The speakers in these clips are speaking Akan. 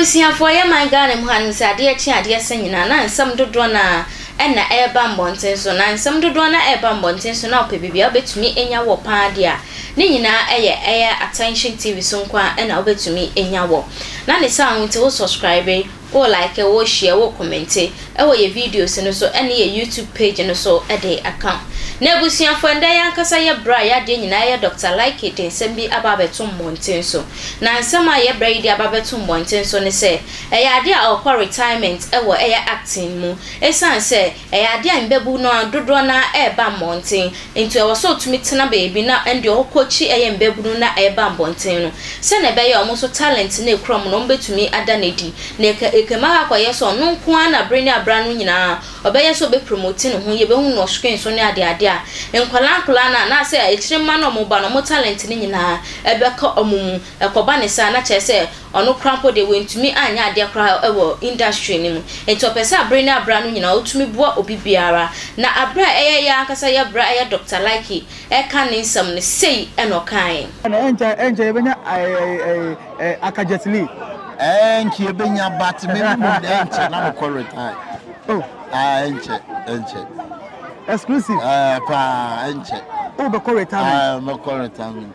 Abusuafoɔ, yɛ man Ghana mu hanom sɛ adeɛ kye a adeɛ sa nyinaa na nsɛm dodoɔ no a ɛna ɛreba mmɔnten so, na nsɛm dodoɔ no a ɛreba mmɔnten so no a wopɛ baabi a wobɛtumi anya wɔ paa deɛ a, Ne nyinaa ɛyɛ ɛyɛ attention TV so nko ara na wobɛtumi anya wɔ. Na ne saa ho nti wo subscribe, wo like, wo share, wo comment ɛwɔ yɛ videos no so ɛne yɛ YouTube page no so de aka ho. Na abusuafoɔ ɛndɛ yɛ ankasa yɛ brɛ a yɛ adeɛ nyinaa ɛyɛ Doctor Likey de nsɛm bi aba abɛto mmɔnten so. Na nsɛm a yɛ brɛ yi de aba abɛto mmɔnten so ne sɛ ɛyɛ adeɛ a ɔrekɔ retirement ɛwɔ ɛyɛ acting mu. Ɛsiane sɛ ɛyɛ adeɛ a mmɛbu no ara dodoɔ no ara ɛreba mmɔnten, Enti ɛwɔ sɛ otumi tena baabi na ɛnde ɔkɔ akyi yɛ mmabunu na ɛba mmɔnten no, sɛnea ɛbɛyɛ a wɔn nso talent no a ekura wɔn no wɔbetumi ada no adi, na ɛka ɛkam ara akɔyɛ sɛ ɔno nko ara na bere ne abere ano nyinaa ɔbɛyɛ sɛ obepromote ne ho, yebehu no wɔ screen so ne adeade a. Nkwadaa nkwadaa no anaasɛ akyiri mma no a wɔba no, wɔn talent no nyinaa bɛka wɔn mu. Ɛkɔba no saa na kyerɛ sɛ ɔno koraa mpo deɛ wantumi anyɛ adeɛ koraa wɔ industry no mu. Nti ɔpɛ sɛ abere ne abere ano nyinaa ɔtumi boa obi biara. Na abere a ɛyɛ yɛ ankasa yɛ bere a ɛyɛ Doctor Likey ɛreka ne nsɛm no, sei na ɔkaeɛ. Ɛna ɛnkyɛ ɛnkyɛ yɛbɛnya eh aka Jet Li. Ɛnkyɛ yɛbɛnya but me ne mo nnɛ ɛnkyɛ na me kɔ retire. Oh. Ah ɛnkyɛ ɛnkyɛ. Exclusive. Eh paa ɛnkyɛ. Wo bɛ kɔ retirement. Ah mɛ kɔ retirement.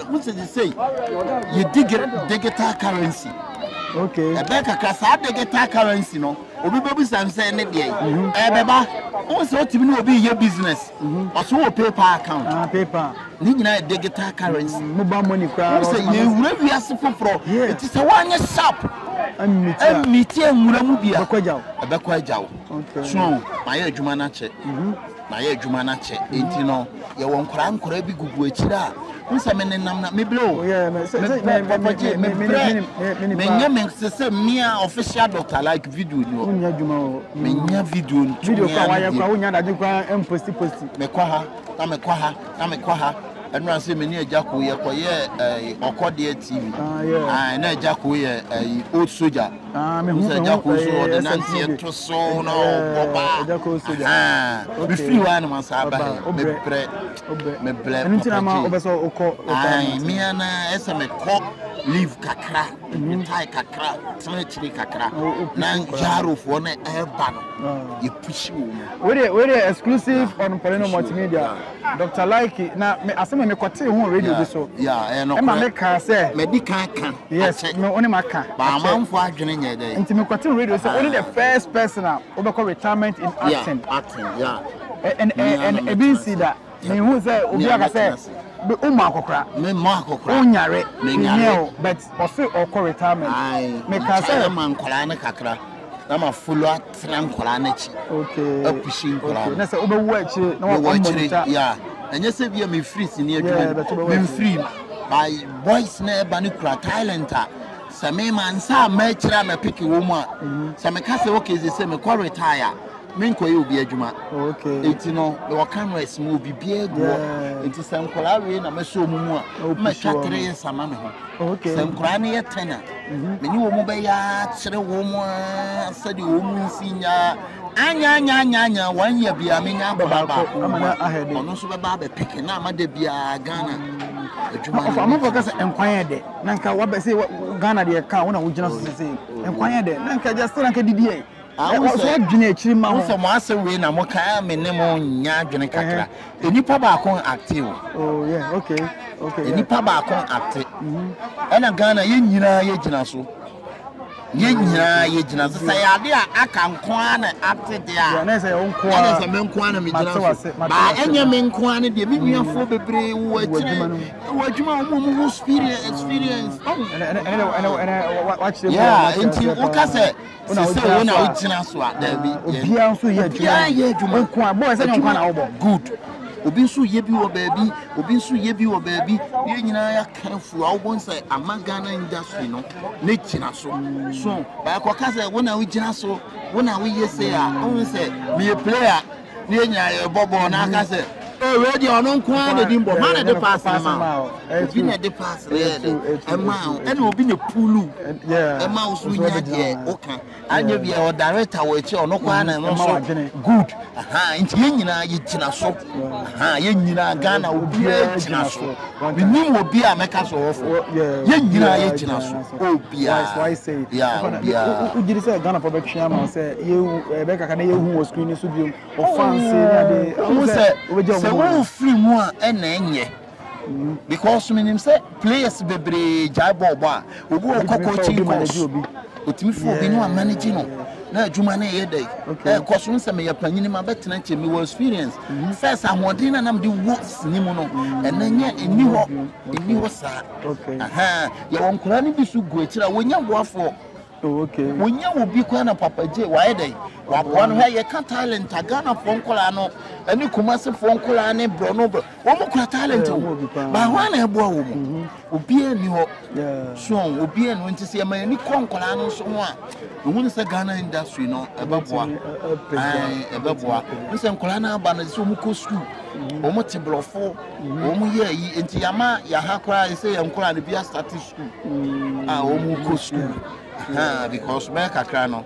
Mo sɛ sɛ yɛ digital currency. Okay. Ɛbɛ kakra saa digital currency no obi bɛbisa me sɛ ne deɛ mhm. ɛbɛba wohu sɛ wotumi ne obi yɛ business mhm. ɔso wɔ paypal account ah, paypal ne nyinaa yɛ digital currency mm, mobile money koraa wohu sɛ yɛwura wiase foforɔ ɛti sɛ woanyɛ sharp mmiti nwura mu bia ɛbɛkɔ agya wo so mayɛ adwuma no akyɛ mhm. Mayɛ adwuma no akyɛ, enti no yɛwɔ nkwadaa nkwadaa bi gugu akyire a n sɛ me nenam na mebrɛ o mebrɛ papa gye mebrɛ menyɛ me sɛ sɛ mmea official doctor like video ni o menya video ntumi mekɔ ha na mekɔ ha na mekɔ ha ɛnura sɛ mene agya ko yɛkɔyɛ ɔkɔdeɛ tv na agya ko yɛ old soldier Ah, me hu, sɛ ɛgya koro so ɔde nanteɛ to so na ɔbɔ ba me firi hɔ a na masa aba he mebrɛ mebrɛ papagye mea na ɛsɛ mekɔ leave kakra metae kakra tena akyiri kakra na nyarofoɔ no ɛba no yɛpusi wɔ mu wedeɛ exclusive on Paulino multimedia Dr. Laiki na asɛm a mekɔtee ho radio bi so ɛma mekaa sɛ madi kan ka Yes, me wo ne ma ka. Ba amanfo adwene nyɛ dɛ. Nti me kɔte radio sɛ wo ne the first person a wobɛkɔ retirement in acting. Yeah, acting, yeah. And and ebi nsi da. Me hu sɛ obi aka sɛ be umu akokra. Me mo akokra. Unyare. Me nyare. But ɔse ɔkɔ retirement. Me ka sɛ. Ɛma nkɔla ne kakra. Na ma follow up. tra nkwadaa no akyi apusi nkwadaa no sɛ wobɛwu akyire na wɔwɔ akyire yɛ ɛnyɛ sɛ bia mefiri sini adwuma memfiri by boys na ɛba no kura talent a sɛ mema nsa a mɛkyerɛ a mɛpeke wɔ mu a mhm. sɛ meka sɛ okay sɛ sɛ mekɔ retire a menkɔyɛ obi adwuma ɛti no mewɔ cameras mu obi biaa gu hɔ ɛnti sɛ nkwadaa wei na mɛsɛ ɔmu mu a mɛtwa tere yɛ sama me ho sɛ nkwadaa no yɛ tɛn a mhm. mene wɔn bɛyɛ akyerɛ wɔn ara sɛdeɛ wɔn nsi nya anya anya anya anya wɔn yɛ bia menya ababa baako mu a ɔno nso bɛba abɛpeke na ama da biara ghana adwuma no ɔfamafo ka sɛ nkwan yɛ dɛ na nka wabɛ sɛ ghana deɛ ka wo na wogyina so sɛ sɛ nkwan yɛ dɛ na nka gya sɛ na nka didiɛ Ɔsɛ dwene akyiri ma ho. Wo sɛ mo asɛm wei na mo ka a me ne mo nya adwene kakra. Uh-huh. Nipa baako acte o. Oh yeah, okay. Okay. Nipa baako acte. Mm-hmm. Ɛna Ghana yɛn nyinaa yɛ gyina so. Yɛn mm-hmm. nyinaa yɛ gyina so. Sɛ yade a aka nko ara na acte de a. Yɛn ɛsɛ yɛn nko ara. Ɛna sɛ me nko ara na me gyina so. Baa ɛnyɛ me nko ara ne deɛ me nuafoɔ mm-hmm. bebree wɔ akyire wɔ adwuma wɔn a wɔn ho experience. Ɛna ɛna ɛna ɛna wakyerɛ mu. Yeah, nti woka sɛ. Sɛ sɛ wo na wogyina so a daabi. Ah, yɛn- obiara nso yɛ obiara adwuma yɛ adwuma. nko a bɔɔ sɛ nyɛ nkwa na wobɔ good obi nso yɛ bi wɔ baabi obi nso yɛ bi wɔ baabi yɛn nyinaa yɛ careful a wobɛhu sɛ ama ghana industry no ne gyina so so baakɔka sɛ wo na wogyina so wo na woyɛ sei a wohu sɛ meyɛ player na yɛnya yɛ bɔbɔ na aka sɛ ee wei deɛ ɔno nko ara na ɛdi mbɔ ma na ɛde paase no ma wo obi na ɛde paase no yɛ de ɛma wo ɛna obi na pulu ɛma wo so nya deɛ woka anyɛ bi a ɔdareta wɔ akyi ɔno kɔ ara na ɛno nso good nti yɛn nyinaa yɛgyina so yɛn nyinaa ghana obiara gyina so menim obi a mɛka sɛ ɔwɔfo yɛn nyinaa yɛgyina so obiara ya obiara wogyiri eh, sɛ ghanafo bɛtwe ama sɛ bɛkaka na yɛhu wɔ screen so biom ɔfanse ne ade wo sɛ sɛ wofiri mu a ɛna ɛnyɛ because menim sɛ players bebree gyae bɔɔlbɔ a Obi wɔ hɔ cockroaching course, otumi fa obi no a manage no na adwuma no yɛ dɛ ɛkɔ so. Nsɛ meyɛ panyin ma bɛtena nkyɛn mi wɔ experience mm-hmm. sɛ sɛ ahoɔden na nam de wɔ sini mu no mm-hmm. ɛnɛ nyɛ ɛni hɔ ɛni hɔ saa. Yɛwɔ nkwadaa no bi so gu akyire a wɔnya boafoɔ oh, wonya wo bi koraa na papa gye wayɛ dɛn waboa no hwɛ yɛka talent a ghanafoɔ nkwadaa no ɛne kumasefoɔ nkwadaa ne borɔ no borɔ Wɔn kura talent o, ba hwan na ɛboa wɔn mu? Mhm. Obiara nni hɔ. So obiara nni hɔ nti sɛ yɛma yɛni kɔ nkwadaa no nso ho a, ehu ne sɛ Ghana industry no ɛbɛboa. Ɛn ɛbɛboa. N sɛ nkwadaa no aba no sɛ wɔn kɔ sukuu, mhm. wɔn te borɔfo, mhm. wɔn yɛ ayi nti yama yaha koraa sɛ yɛn nkwadaa no bi asate sukuu a wɔn kɔ sukuu because bɛyɛ kakra no.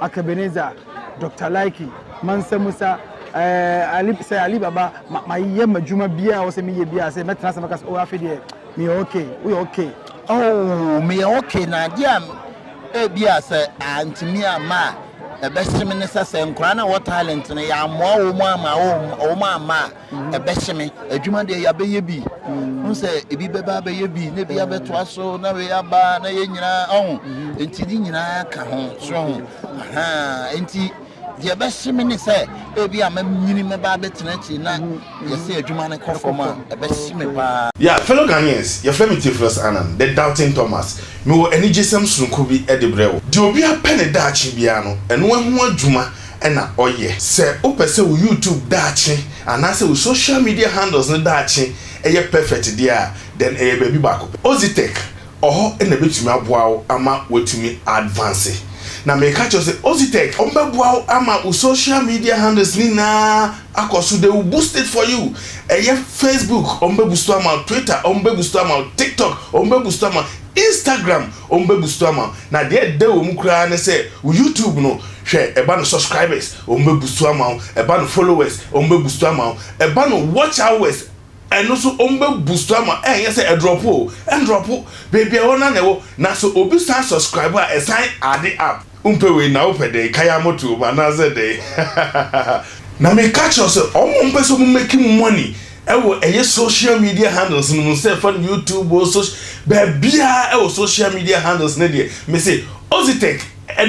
Akebeneza, Doctor Likey, Mansa Musa, eh, Ali, sɛ Ali Baba, ma, ma yɛ ma dwuma biara a wɔsɛ meyɛ biara sɛ mɛtena sɛ mɛka sɛ, oh, afei deɛ, meyɛ okay, woyɛ okay. Oh, meyɛ okay, na adeɛ a ebi a sɛ antumi amma a, ɛbɛhye me ne sɛ, sɛ nkwadaa no a ɛwɔ talent no, yɛammoa wɔn amma, wɔn amma a, ɛbɛhye me adwuma deɛ yɛabɛyɛ bi hu sɛ ebi bɛba abɛyɛ bi na ebi abɛtoa so na wei aba na yɛ nyinaa ɔho nti ne nyinaa ka ho so ho nti deɛ ɛbɛhye me ne sɛ ebi a mɛnyini mɛba abɛtena akyi na yɛsɛ adwuma no kɔ fam a ɛbɛhye me paa. Yeah, fellow Ghanaians, yɛfrɛ me Theophilus Annan, the Doubting Thomas. Mewɔ anigyesɛm sononko bi de brɛ wo. Deɛ obiara pɛ ne daakye biara no, ɛno ho adwuma na ɔyɛ. Sɛ wopɛ sɛ wo YouTube daakye anaasɛ wo social media handles no daakye yɛ perfect deɛ a, then ɛyɛ baabi baako pɛ. Ozitech wɔ hɔ na ɛbɛtumi aboa wo ama woatumi a advance. Na meka kyerɛ wo sɛ Ozitech wɔbɛboa wo ama wo social media handles no nyinaa akɔ so, they will boost it for you. Ɛyɛ Facebook wɔbɛbusto ama wo, Twitter wɔbɛbusto ama wo, TikTok wɔbɛbusto ama wo, Instagram Wɔbɛgu so ama wo na deɛ ɛdɛ wɔ mu koraa ne sɛ wo YouTube no hwɛ ɛba no subscribers wɔbɛgu so ama wo ɛba no followers wɔbɛgu so ama wo ɛba no watch hours ɛno nso wɔbɛgu so ama wo ɛnyɛ sɛ ɛdrɔpo o ɛndrɔpo baabi a ɛwɔ no ara na ɛwɔ na sɛ obi san subscribe a ɛsan add up. Wompɛ wei na wopɛ dɛn? Kae amoto wom anaasɛ dɛn? Hahahaha. Na meka kyerɛ wo sɛ wɔn a wɔpɛ sɛ wɔn make money wɔ ɛyɛ social media handles no mu sɛ fa no YouTube o soc baabiara wɔ social media handles no deɛ mese Ozytec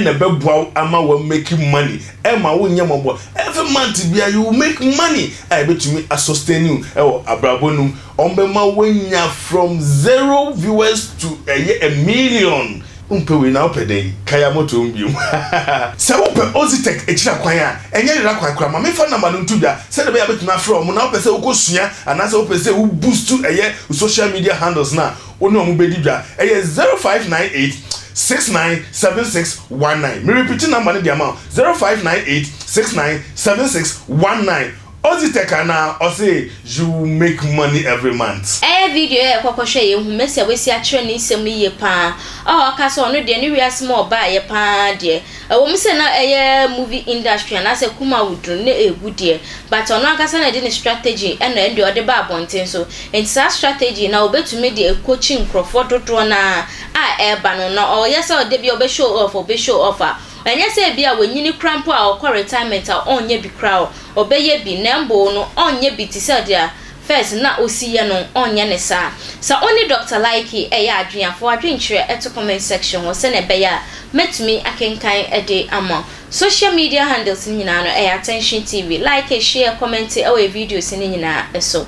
na ɛbɛboa wo ama wa make money ɛma wo nyɛ mɔbɔ every month biara you will make money a ɛbɛtumi a sustain you wɔ abrabɔ no mu wɔn bɛma wo anya from zero viewers to ɛyɛ a million Wompɛ wei na wopɛ dɛn? Kae a moto hom bio. Sɛ wopɛ Ozytec ekyir akwan a, nnyɛ yer akwan koraa, ma memfa number no nto dwa sɛdeɛ ɔbɛyɛ a mɛtumi afrɛ hom, na wopɛ sɛ wokosua anaasɛ wopɛ sɛ wo boost ɛyɛ wo social media handles no a, wo ne hom bɛdi dwa. Ɛyɛ zero five nine eight six nine seven six one nine. Merepiti number no de ama wo, zero five nine eight six nine seven six one nine. Odzi tɛk anaa ɔse you make money every month. Ɛyɛ video yɛ yɛkɔ kɔhwɛ yɛ hu Mɛsi a wasi akyerɛ ne nsɛm no yie paa a ɔka sɛ ɔno deɛ ne wiase mu a ɔbaeɛ paa deɛ ɛwɔ mu sɛ na ɛyɛ movie industry anaasɛ kum a woduru no na ɛgu deɛ but ɔno ankasa na ɛde ne strategy na ɛndeɛ ɔde ba abɔnten so nti saa strategy na ɔbɛtumi de ɛkɔkyi nkorɔfoɔ dodoɔ no ara a ɛreba no na ɔyɛ sɛ ɔdɛ biara ɔbɛ show off ɔbɛ show off a Ɛnyɛ sɛ ebia wanyini koraa mpo a ɔkɔ retirement a ɔrenyɛ bi koraa o, ɔbɛyɛ bi, na mmbow no, ɔrenyɛ bi te sɛ deɛ first na ɔsi yɛ no, ɔrenyɛ no saa. Sɛ wo ne Dɔkta Likey reyɛ adwene a, fa w'adwenkyerɛ to comment section hɔ sɛnea ɛbɛyɛ a mɛtumi akenkan de ama wo. Social media handles no nyinaa no, ɛyɛ Attention TV. Like, share, comment wɔ yɛn videos no nyinaa so.